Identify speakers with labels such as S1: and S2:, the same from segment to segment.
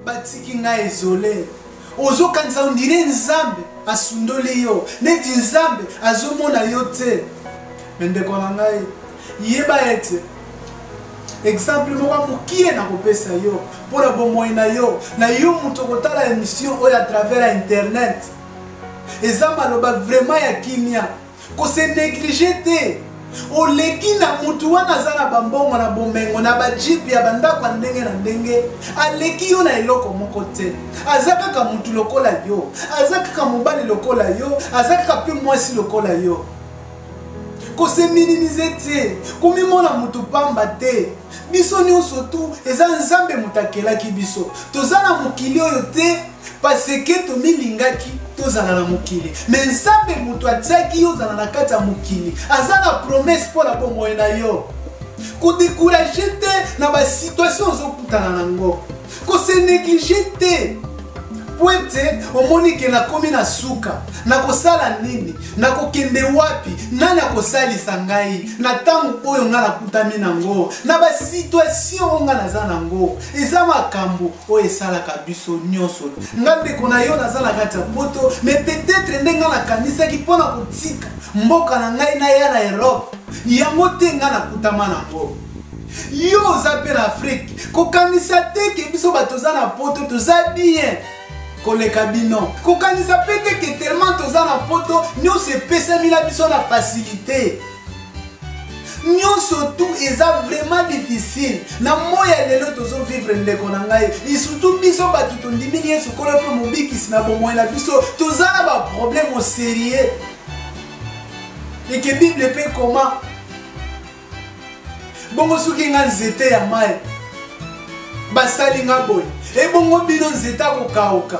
S1: batiki ngai ezole ozokanisa ondire nzambe asundoli yo neti nzambe azomona yo te me ndeko na ngai yeba ete exemple moko ya mokie nakopesa yo mpo na bomoi na yo na yo moto okotala émission oyo à travers ya internet eza maloba vraiment ya kimia Ko se negliger te. oleki na mutu wana aza na bambongo na bomengo na bajipe ya bandako ya ndenge na ndenge aleki yo na eloko moko te aza kaka mutu lokola yo aza kaka mobali lokola yo aza kaka mpe mwasi lokola yo koseminimize te komimona moto mpamba te biso nyonso tu eza nzambe moto akelaki biso toza na mokili oyo te parce que tomilingaki tozala na mokili me nzambe moto atiaki yo ozala na kati ya mokili aza na promese mpo na bomoi na yo kodekuraje te na basituation ozokutana na yango koseneglige te mpo ete omoni ke nakomi na suka nakosala nini nakokende wapi nani akosalisa ngai na ntango oyo ngai nakutami na yango na basituation oyo ngai naza na yango eza makambo oyo esalaka biso nyonso nga ndeko na yo naza na kati ya poto mais peut-être nde nga nakanisaki mpo na kotika mboka na ngai naya na europe yango te nga nakutama nango yo oza mpe na afrike kokanisa te ke biso bato toza na poto toza bien koleka bino kokanisa mpe te ke tellement toza na poto nyonso epesami na biso na facilité nyonso tu eza vraiment difficile na moi ya lelo tozovivre ndeko na ngai lisutu biso bato tondimini yesu kolo mpe mobikisi na bomoi na biso toza na baproblème oserieux eke bible mpe koma bongo soki nga nzete ya mai basali nga boye ebongo bino nzete akokauka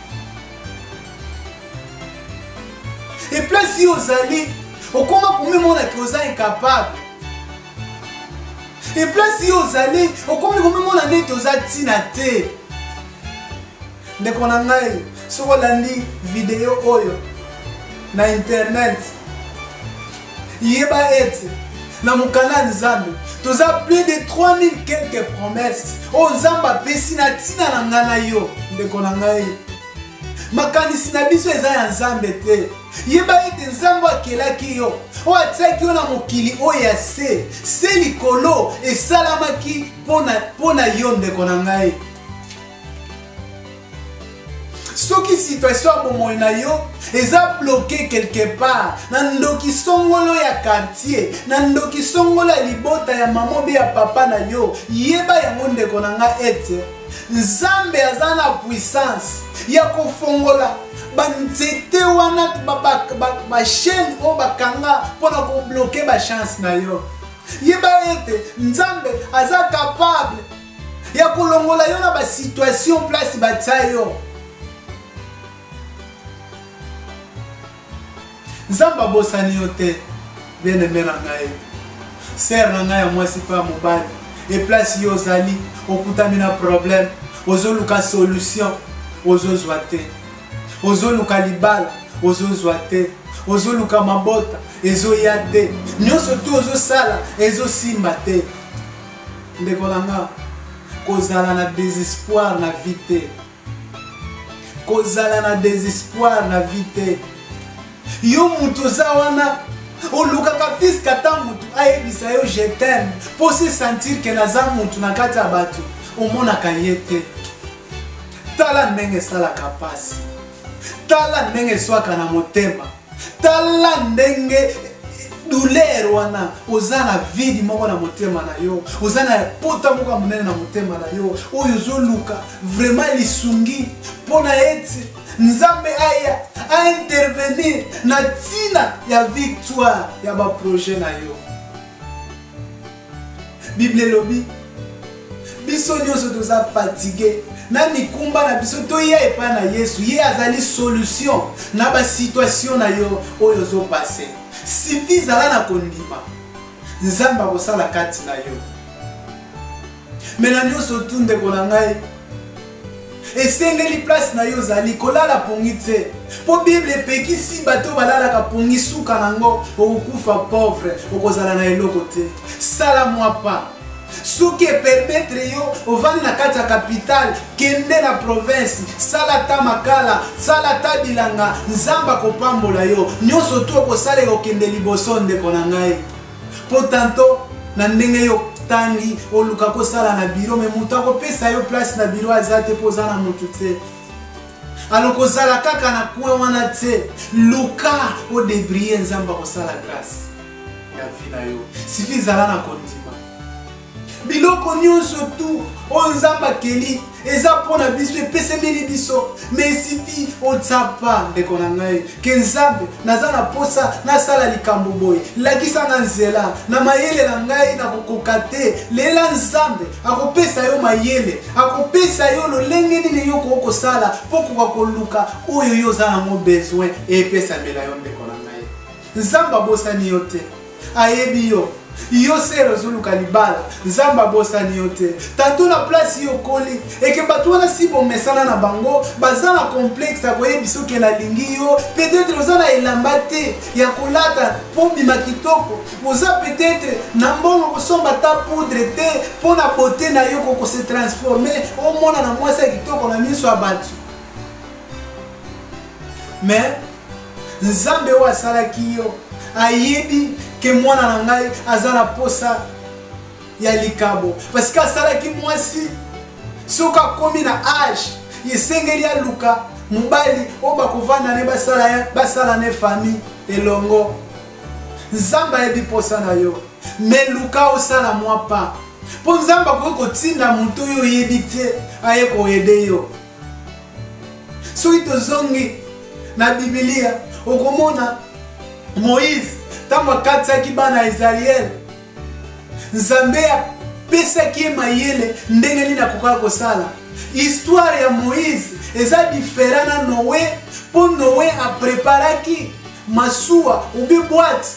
S1: eplasi yo ozali okoma komimona ke oza incapable eplasi yo ozali okomi komimona neti oza ntina te ndeko na ngai soki olandi video oyo na internet Yeba ete na mokanda ya Nzambe toza plus de 3000 quelques promesses oyo Nzambe apesi na ntina na ngai na yo ndeko na ngai. Makanisi na biso eza ya Nzambe te. Yeba ete Nzambe akelaki yo oyo atiaki yo na mokili oyo ya se se likolo esalamaki mpo na yo ndeko na ngai. soki situation ya bomoi na yo eza bloke quelque part na ndoki songolo ya quartier na ndoki songolo ya libota ya mama obe ya papa na yo yeba yango ndeko na nga ete nzambe aza na puissance ya kofongola banzete wana bachaine oyo bakanga mpo na kobloke bachance na yo yeba ete nzambe aza kapable ya kolongola yo na basituation place batya yo nzambe abosani yo te bieneme na ngai sere na ngai ya mwasi mpe ya mobali eplace yo ozali okutami na problème ozoluka solution ozozwa te ozoluka libala ozozwa te ozoluka mabota ezoya te nyonso tu ozosala ezosimba te Ndeko na nga, kozala na desespoir na vie te. Kozala na desespoir na vie te. Yo moto oza wana olukaka piske ata motu ayebisa yo je t'aime mpo se sentir ke naza motu na kati ya bato omonaka ye te tala ndenge esalaka mpasi tala ndenge eswaka na motema tala ndenge douleur wana oza na vide moko na motema na yo oza na pota moko ya monene na motema na yo oyo ozoluka vraiment lisungi mpo na ete nzambe aya aintervenir na ntina ya victoire ya baprojet na yo Biblia elobi biso nyonso toza fatigue na mikumba na biso toya epai na yesu ye azali solution na basituation na yo oyo ozopase sifi zala na kondima nzambe akosala kati na yo me na nyonso tu ndeko na ngai esengeli place na yo ozali kolala pongi te mpo bible epekisi bato balalaka pongi suka na yango okokufa pauvre okozala na eloko te sala mwa pa soki epermetre yo ovandi na kati ya kapitale kende na province sala ata makala sala ata bilanga nzambe akopambola yo nyonso tu okosala ekokende liboso ndeko na ngai po tanto na ndenge yo tangi oluka kosala na biro me moto akopesa yo place na biro aza te mpo oza na moto te alors kozala kaka na coin wana te luka odebrie nzambe akosala grâce na vie na yo sifi zala na kondima biloko nyonso tu oyo nzambe akeli eza mpo na biso epesemeli biso mesiti otsapa ndeko na ngai ke nzambe naza na mposa nasala likambo boye lakisa nga nzela na mayele na ngai nakokoka te lela nzambe akopesa yo mayele akopesa yo lolenge nini yo koki kosala mpo koka koluka oyo yo oza nango besoin epesamela yo ndeko Nzambe abosani yo te. Ayebi yo. Yo sere ozoluka libala. Nzambe abosani yo te. Tato na place yo okoli. Eke bato wana si bomesana na bango, baza na complexe ya koyebisa oke nalingi yo. Peut-être oza na elamba te ya kolata mpo bima kitoko. Oza peut-être na mbongo kosomba ta poudre te mpo na beauté na yo koko se transformer omona na mwasi ya kitoko na miso ya bato. Mais nzambe oyo asalaki yo ayebi ke mwana na ngai aza na posa ya likabo parce que asalaki mwasi soki akomi na age esengeli aluka mobali oyo bakovanda ne basala ne famille elongo nzambe ayebi mposa na yo me luka osala mwa pa mpo nzambe akoki kotinda moto oyo oyebi te aye koyede yo soki tozongi na bibilia okomona moïse ntango akatisaki bana ya israele nzambe apesaki ye mayele ndenge nini akokaka kosala histoire ya moïse eza difera na noe mpo noe apreparaki masuwa obi bwate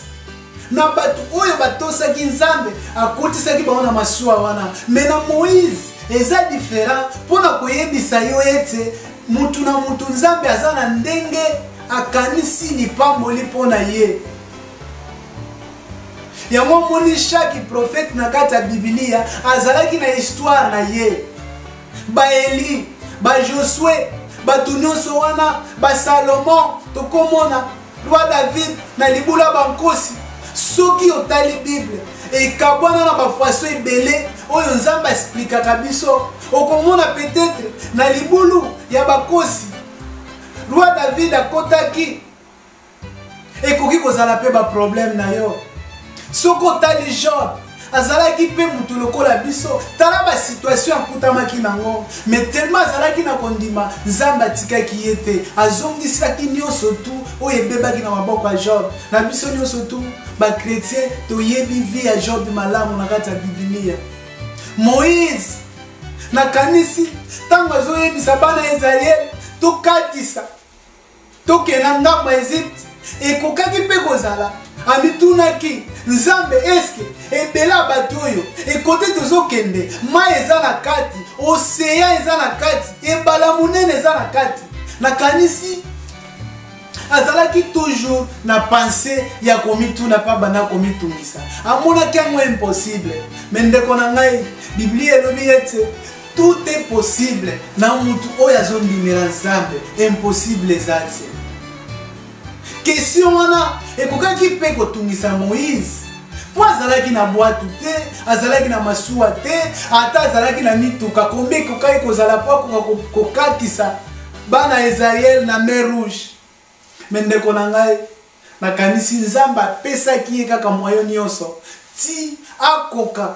S1: na bato oyo batosaki nzambe akotisaki bango na masuwa wana me na moïse eza diferent mpo na koyebisa yo ete motu na motu nzambe aza na ndenge akanisi lipamboli mpo na ye yango omoni shaki profete na kati ya bibilia azalaki na histware na ye baeli bajosue bato nyonso wana basalomo tokomona Roi David na libula bankosi soki otali bible ekabwana na bafaso ebele oyo nzambe asplikaka biso okomona petetre na libulu ya bakosi roi david akotaki ekoki kozala mpe baproblème na yo soki otali job azalaki mpe moto lokola biso tala basituatio akutamaki nango me telema azalaki na kondima nzambe atikaki ye te azongisaki nyonso tu oyo ebebaki na maboko ya job na biso nyonso tu bakretien toyebi vie ya job malamu na kati ya bibilia moïse nakanisi ntango azoyebisa bana ya israele tokatisa tokenda ngambo ya ezipte ekokaki mpe kozala amitunaki nzambe eske ebele ya bato oyo ekote tozokende mai eza na kati oseya eza na kati ebala monene eza na kati nakanisi azalaki toujours na pense ya komituna mpe abanda komitungisa amonaki yango impossible me ndeko na ngai biblia elobi ete Tout est possible na mutu oyo azondimela Nzambe, impossible eza te. Question wana ekokaki mpe kotungisa Moïse mpo azalaki na bwatu te azalaki na masuwa te ata azalaki na mituka kombe ekokaki kozala mpo akoka kokatisa bana ya israele na mer rouge me ndeko na ngai nakanisi nzambe apesaki ye kaka mwayo nyonso ti akoka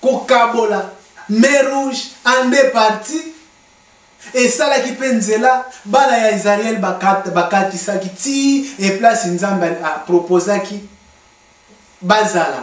S1: kokabola mer rouge en deux partie esalaki mpe nzela bana ya israele bakatisaki ti eplace nzambe aproposaki bazala